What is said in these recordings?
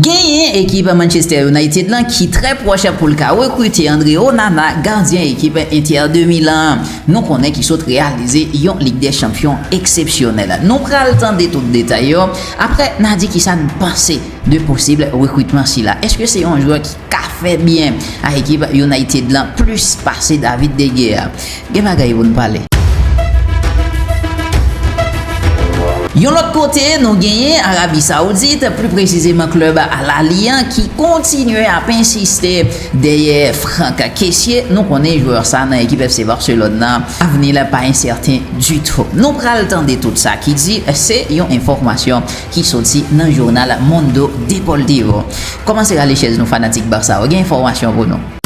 Genyen ekip Manchester United lan ki trè pwòch pou l ka rekrite Andre Onana, gadyen ekip Inter de Milan an, nou konnen ki sot reyalize yon Lig dè Chanpyon eksepsyonèl. Nou pral tande tout detay yo aprè n a di kisa n panse. De posib rekritman sila, eske se yon jwè ki ka fè byen a ekip United lan plis pase David de Gea? Gen bagay pou nou pale. Yon lòt kote, nou genyen Arabi Saoudit, pli presizeman klub Al Ahli an ki kontinye ap ensiste dèyè Franck Kessié. Nou konnen jwè sa nan ekip FC Barcelone lan, avni l pa ensèten ditou. Nou pral tande tout sa ki di, se yon enfòmasyon. ki soti nan journal Mundo Deportivo. Komanse rale chèz nou fanatik Barça yo gen enfòmasyon pou nou.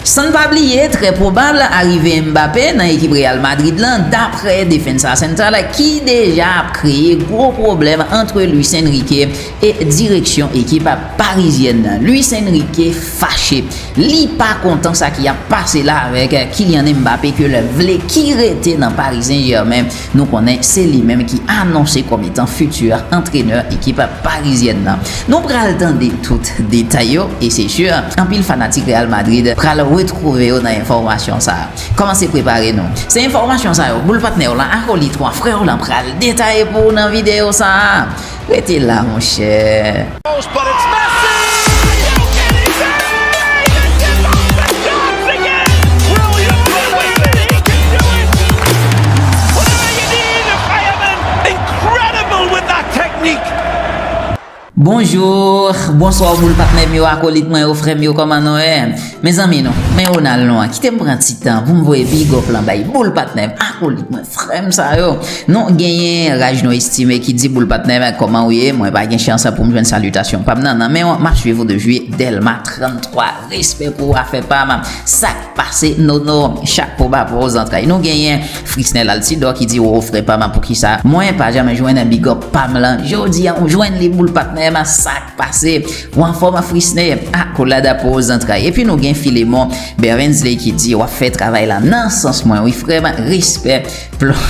San n pa bliye trè pwobab arive Mbappé nan ekip Real Madrid lan daprè Defensa Central ki deja ap kreye gwo pwoblèm antre Luis Enrique E direksyon ekip parizyèn Luis Enrique fache. Li pa kontan sa ki ap pase la avèk Kylian Mbappé ke l vle ki rete nan Paris Saint Germain. Nou konnen se li menm ki anonse kòm etan futur antrenè ekip parizyèn nan. Nou pral tande tout detay yo e se sur anpil fanatik Real Madrid pral retrouve yo nan enfòmasyon sa. Kòmanse prepare nou. Se enfòmasyon sa yo boul patnè w lan, akolite w an, frè w lan pral detaye pou ou nan video sa. Rete la monchè! Bonjour, bonsoir boul patnèm yo, akolit mwen yo, frèm yo kòman nou ye? Mezanmi nou, men Ronald nou an, kitem pran ti tan poum voye big up lan bay boul patnèm, akolit mwen. Frèm sa yo Nou genyen raj nou estime ki di boul patnè men kòman ou ye mwen pa gen chans poum jwenn salitasyon pam nan nan menw map swiv ou depi Delma 33 respè pou ou afè pam sak pase Nono chapo ba pou ou zantray nou genyen Frisnel Altidor ki di woww frè pam poukisa mwen pa janm jwenn bigòp pam lan jodia ou jwenn li boul patnè sak Pase, ou anfòm Afrisne? Akolad a po zantray. Epi nou gen Filemon Berensley ki di, wap fè travay la nan sans mwen wi frèm, respè plon.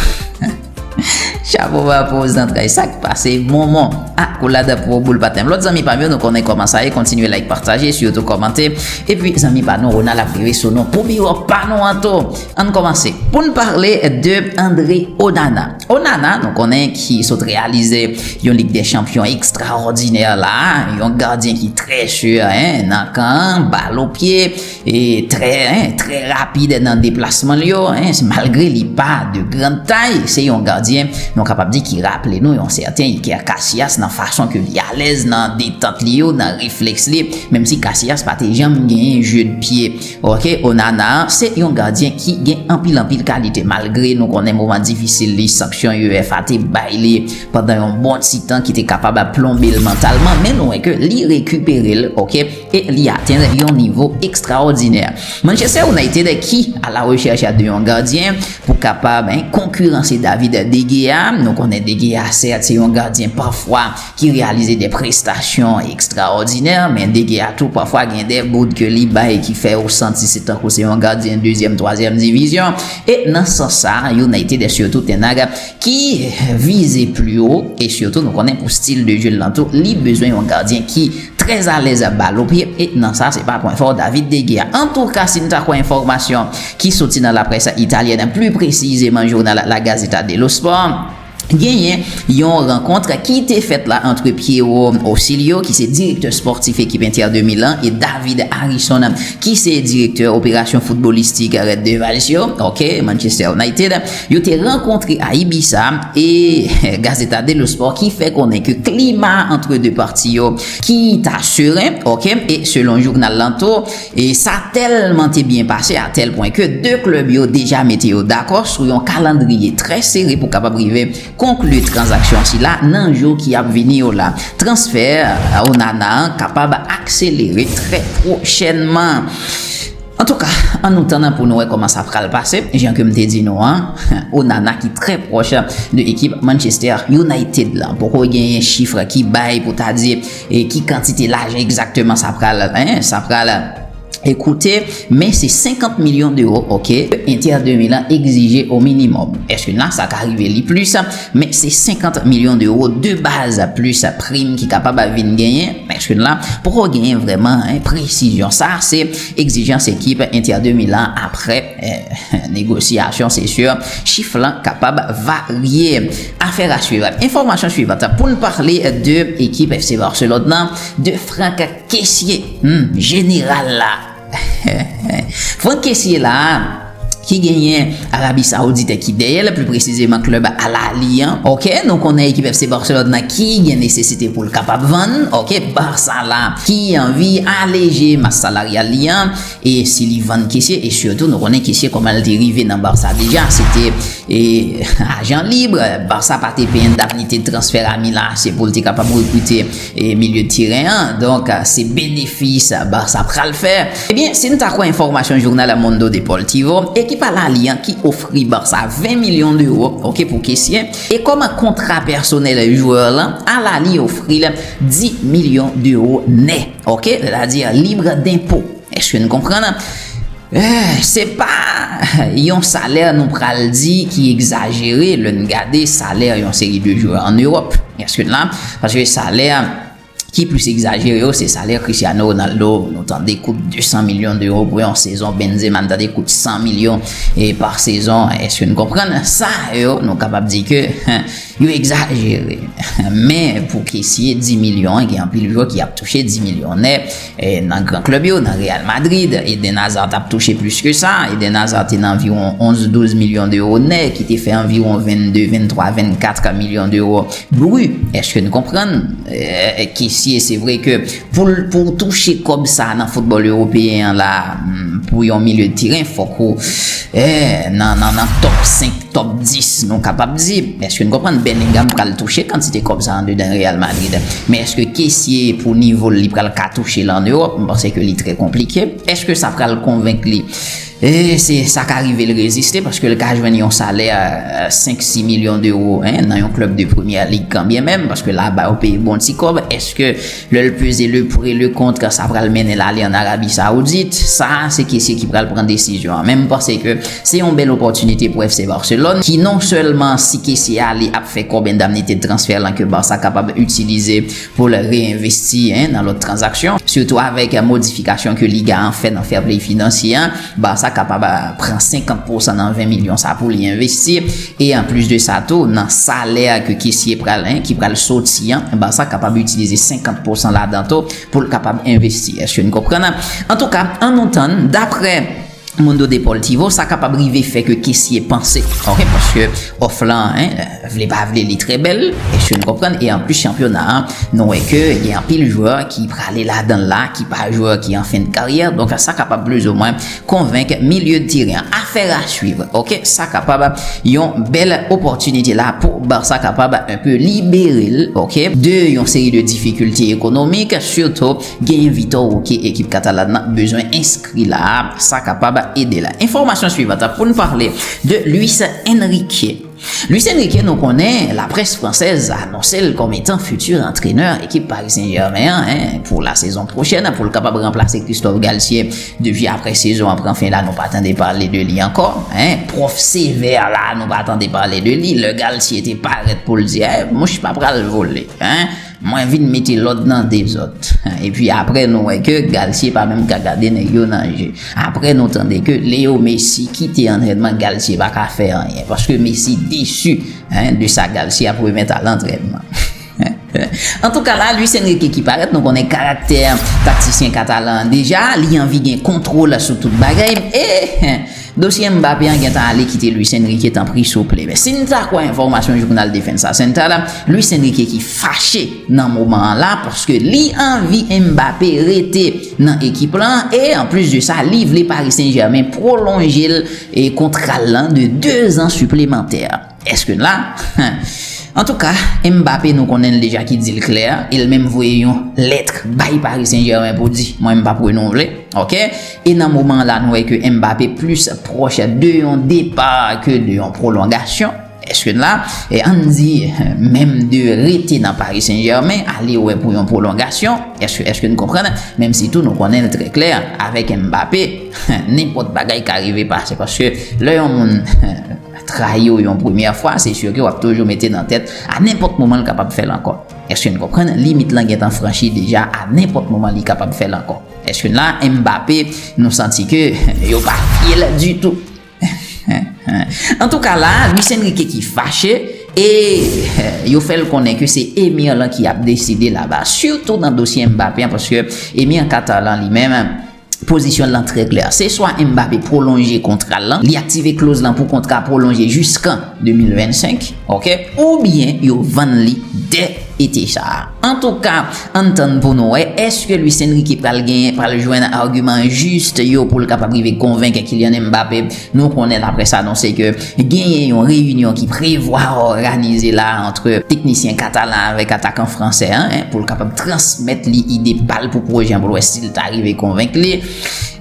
Chapo ba po zantray. Sak pase Monmon? Akolad a po boul patenm. Lòt zanmi pam yo nou konnen kòman sa ye, kontinye like pataje, sitou kòmante. Epi zanmi pa nou Ronald ap rive sou nou pou biwo pa nou an tou. Ann kòmanse. Poun pale de Andre Onana. Onana, nou konnen, ki sot reyalize yon Lig dè Chanpyon ekstraòdinè la, yon gadyen ki trè sure, hein, nan kan an, bal o pye, e trè, hein, trè rapid nan deplasman l yo, hein, malgre li pa de grand tay, se yon gadyen, nou kapab di ki raple nou yon sèten Iker Casillas nan fason ke li alèz nan detant li yo, nan reflèks li, menm si Casillas pa te janm genyen jeu de pied. Ok Onana an se yon gadyen ki gen anpil anpil kalite malgre nou konnen moman difisil li sanksyon UEFA te bay li pandan yon bon ti tan ki te kapab ap plonbe l mantalman men nou wè ke li rekipere l ok e li atenn yon nivo ekstraòdinè. Manchester United ki a la rechèch de yon gadyen pou kapab konkiranse David De Gea nou konnen De Gea sèt se yon gadyen pafwa ki reyalize de prestasyon ekstraòdinè, men Dege a tou pafwa gen de bout ke li bay ki fè ou santi se tankou se yon gadyen dezyèm, twazyèm divizyon. E nan sans sa, United est surtout Ten Hag ki vize pli wo, e sitou nou konnen pou stil de je l lan tou, li bezwen yon gadyen ki trè alèz ap bal o pye, e nan sa se pa pwen fò David De Gea. Antouka, si n ta kwè enfòmasyon ki soti nan laprès italyèn, pli presizeman jounal La Gazzetta dello Sport, Genyen yon rankontr ki te fèt la antre Piero Ausilio ki se direktè spòtif ekip Inter de Milan e David Harrison ki se direktè operasyon foutbolistik Red Devils yo, ok, Manchester United. Yo te rankontre a Ibiza e Gazzetta dello Sport ki fè konnen ke klima antre 2 pati yo ki ta seren, ok, e selon jounal lan tou, E sa tèlman te byen pase a tèl pwen ke 2 klèb yo deja mete yo dakò sou yon kalandriye trè sere pou kapab rive konkli tranzaksyon sila nan jou ki ap vini yo la. Transfè Onana an kapab akselere trè pwochènman. Antouka, an nou tann pou nou wè kòman sa pral pase. Jan ke m te di nou an, Onana ki trè pwòch de ekip Manchester United la. Poko genyen chif ki bay pou ta di. E ki kantite lajan egzakteman sa pral, hein, sa pral koute, men se 50 milyon dewo, ok, ke Inter de Milan egzije o minimòm. Eske la sa ka rive li plis, men se 50 milyon dewo de baz plis prim ki kapab vin genyen, men eske la poko genyen vrèman presizyon. Sa se egzijans ekip Inter de Milan aprè negosyasyon, se sur chif la kapab varye. Afera swivan. Enfòmasyon swivan pou n pale de ekip FC Barcelone nan, de Franck Kessié, humm jeneral la. Franck Kessié la ki genyen Arabie Saoudite ki dèyè l, pli presizeman klèb Al Ahly an ok, nou konnen ekip FC Barcelone nan ki gen nesesite pou l kapab vann ok Barça la ki anvi aleje mas salaryal li an. E si li vann Kessie e surtout nou konnen Kessie koman li te rive nan Barça deja se te ajan libre Barça pa te peye endamnite de transfè Rami la se pou li te kapab rekrite milieu de terrain an donk se benefis Barça pral fè. Ebyen si nou ta kwè enfòmasyon jounal El Mundo Deportivo ekip Al Ahly an ki ofri Barça 20 milyon d'euro ok pou Kessie e kòm kontra pèsonèl joueur lan Al Ahly ofri l 10 milyon d'euro nè. Ok, lè la di an libre denpo. Eske nou konprann an? Eh, se pa yon salè nou pral di ki egzajere lè n gade salè yon seri de jwè an Ewòp. Eske n la? Paske salè ki plis egzajere yo se salè Cristiano Ronaldo. Nou tande kout 200 milyon dewo pou yon sezon. Benzema n tande kout 100 milyon pa sezon. Eske n konprann? Sa yo nou kapab di ke. Yo egzajere. Men pou kesye 10 milyon an gen anpil jwè ki ap touche 10 milyon nèt nan gran klèb yo, nan Real Madrid, Eden Hazard t ap touche plis ke sa, Eden Hazard te nan anviwon 11, 12 milyon dewo nèt ki te fè anviwon 22, 23, 24 milyon dewo bri. Eske n konprann? Kesye se vre ke Pou w touche kòb sa nan foutbòl ewopeyen an la pou yon milye de teren fòk ou nan tòp 5, tòp 10 nou kapab di. Èske n konprann Bellingham pral touche kantite kòb sa andedan Real Madrid? Men èske Kessie pou nivo l li pral ka touche l an Ewòp? M panse ke li trè konplike. Èske sa pral konvenk li? E se sa ka rive l reziste paske l ka jwenn yon salè 5, 6 milyon dewo nan yon klèb de premyè lig kanbyenmenm paske laba yo peye bon ti kòb. Èske lè l peze le pour et le contre sa pral mennen l ale ann Arabi Sawoudit? Sa a se kesye ki pral pran desizyon an. Men m panse ke se yon bèl opòtinite pou FC Barcelone ki non sèlman si kesye ale ap fè kòb endamnite de transfè lan ke Barça kapab itilize pou l reenvesti nan lòt tranzaksyon, sitou avèk modifikasyon ke Liga an fè nan Fairplay finansye a, Barça kapab pran 50 pousan nan 20 milyon sa pou li envesti, e anplis de sa tou, nan salè ke Kessie pral en, ki pral soti an, Barça kapab itilize 50 pousan ladan tou pou l kapab envesti. Èske n konprann? Antouka, an nou tann, daprè. Mundo Deportivo, sa kapab rive fè ke Kessie panse, ok, paske òf lan, hein, vle pa vle li trè bèl, èske nou konprann, e anplis chanpyona a, nou wè ke gen anpil jwè ki prale ladan l la, ki pa jwè ki an fen de karyè, donk sa kapab plizomwen konvenk milye de teren an. Affaire à suivre, ok, sa kapab yon bèl opòtinite la pou Barça kapab un peu libere l, ok, de yon seri de difikilte ekonomik, sitou. Genyen Vitor Roque ekip Catalan nan bezwen enskri la a, sa kapab ede la. Enfòmasyon suivant pou n pale de Luis Enrique. Luis Enrique nou konnen la près fransèz anonse l kòm etan futur antrenè ekip Paris Saint Germain an pou la sezon pwochèn pou l kapab ranplase Christophe Galtier depi aprè sezon an pran fen la nou pa tande pale de li ankò. Prof Sévère la a nou pa tande pale de li lè Galtier te parèt pou l di mouche pa pral vole. Mwen vin mete lòd nan dezòd. Epi apre nou wè ke Galtier pa menm ka gade nèg yo nan je. Apre nou tande ke Leo Messi kite antrènman Galtier pa ka fè anyen. Paske Messi desu de sa Galtier ap remèt a lantrènman. Antouka la Luis Enrique ki parèt nou konnen karaktè taktisyen katalan an deja. Li anvi gen kontwol sou tout bagay. E. Dosye Mbappé an gentan ale kite Luis Enrique tanpri souple. Men si n ta kwè enfòmasyon jounal Defensa Central la, Luis Enrique ki fache nan moman an la paske li anvi Mbappé rete nan ekip lan e anplis de sa li vle Paris Saint Germain pwolonje l kontra l lan de 2 zan siplemantè. Eske n la? Antouka, Mbappé nou konnen l deja ki di l klè, e l menm voye yon lettre bay Paris Saint Germain pou di, mwen m p ap renouvle. Ok. E nan moman an la nou wè ke Mbappé plis pwòch de yon depa ke de yon pwolongasyon. Eske n la? E an n di menm de rete nan Paris Saint Germain, ale wè pou yon pwolongasyon. Eske, eske n konprann? Menm si tou nou konnen l trè klè, avèk Mbappé, nenpòt bagay ka rive pase. Paske lè yon moun. trayi w yon premyè fwa, se sur ke wap toujou mete nan tèt a nenpòt moman l kapab fè l ankò. Eske n konprann? Limit lan gentan franchi deja, a nenpòt moman li kapab fè l ankò. Eske n la? Mbappé, nou santi ke yo pa fye l ditou. Antouka la a, Luis Enrique ki fache, e yo fè l konnen ke se Emir lan ki ap deside laba, sitou nan dosye Mbappé an, paske Emir Qatar lan li menm, Pozisyon l lan trè klè. Se swa Mbappé pwolonje kontra l lan, li aktive kloz lan pou kontra a pwolonje jiskan 2025, ok, oubyen yo vann li dè ete sa a. Antouka, ann tann pou nou wè, èske Luis Enrique pral genyen, pral jwenn agiman jis yo pou l kapab rive konvenk Kylian Mbappé, Nou konnen laprès anonse ke genyen yon reyinyon ki prevwa òganize la antre teknisyen katalan avèk atakan fransè an pou l kapab transmèt li ide pa l pou pwojè an pou l wè si l ta rive konvenk li.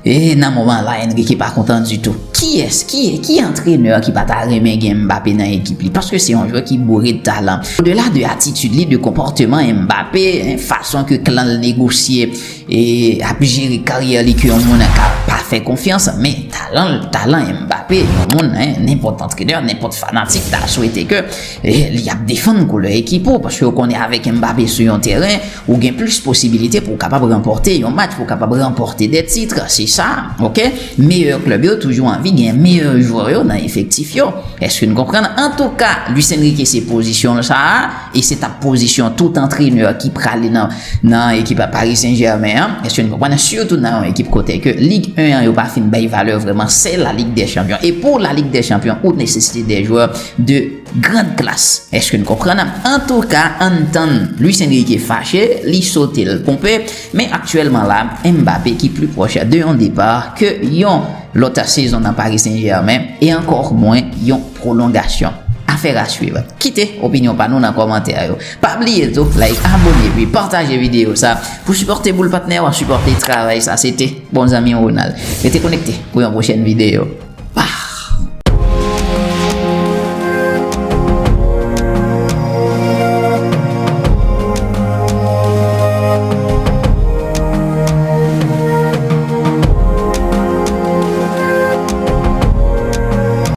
E nan moman la Enrique pa kontan ditou. Kiyès, ki ki antrenè ki pa ta renmen gen Mbappé nan ekip li paske se yon jwè ki boure de talan. Odela de atitid li, de konpòteman Mbappé, fason ke klan l negosye. E ap jere karyè li ke yon moun ka pa fè konfyans, men talan l, talan Mbappé, yon moun nenpòt antrenè, nenpòt fanatik ta swete ke li ap defann koulè ekip ou, paske ou konnen avèk Mbappé sou yon tèren, ou gen plis posibilite pou w kapab ranpòte yon match, pou w kapab ranpòte dè titre, se sa, ok, meyè klèb yo toujou anvi gen meyè jwè yo nan efektif yo, èske n konprann? Antouka, Luis Enrique se pozisyon l sa a. E se tap pozisyon tout antrenè ki prale nan ekip a Paris Saint Germain an, èske nou konprann, sitou nan yon ekip kote ke lig 1 an yo pa fin bay valè vrèman, se la lig dè chanpyon. E pou la lig dè chanpyon ou nesesite dè jwè de grand klas, èske nou konprann. Antouka ann tann Luis Enrique fache, li sote l ponpe, men aktyèlman la Mbappé ki pli pwòch de yon depar ke yon lòt sezon nan Paris Saint Germain e ankò mwen yon Prolongation. Affaire à suivre. Kite opinyon pa nou nan kòmantè yo. Pa bliye tou like, abone epi pataje videyo sa pou sipòte boul patnè yo, sipòte travay sa. Se te bon zanmi w Ronald. Rete konekte pou yon pwochèn videyo. Pah!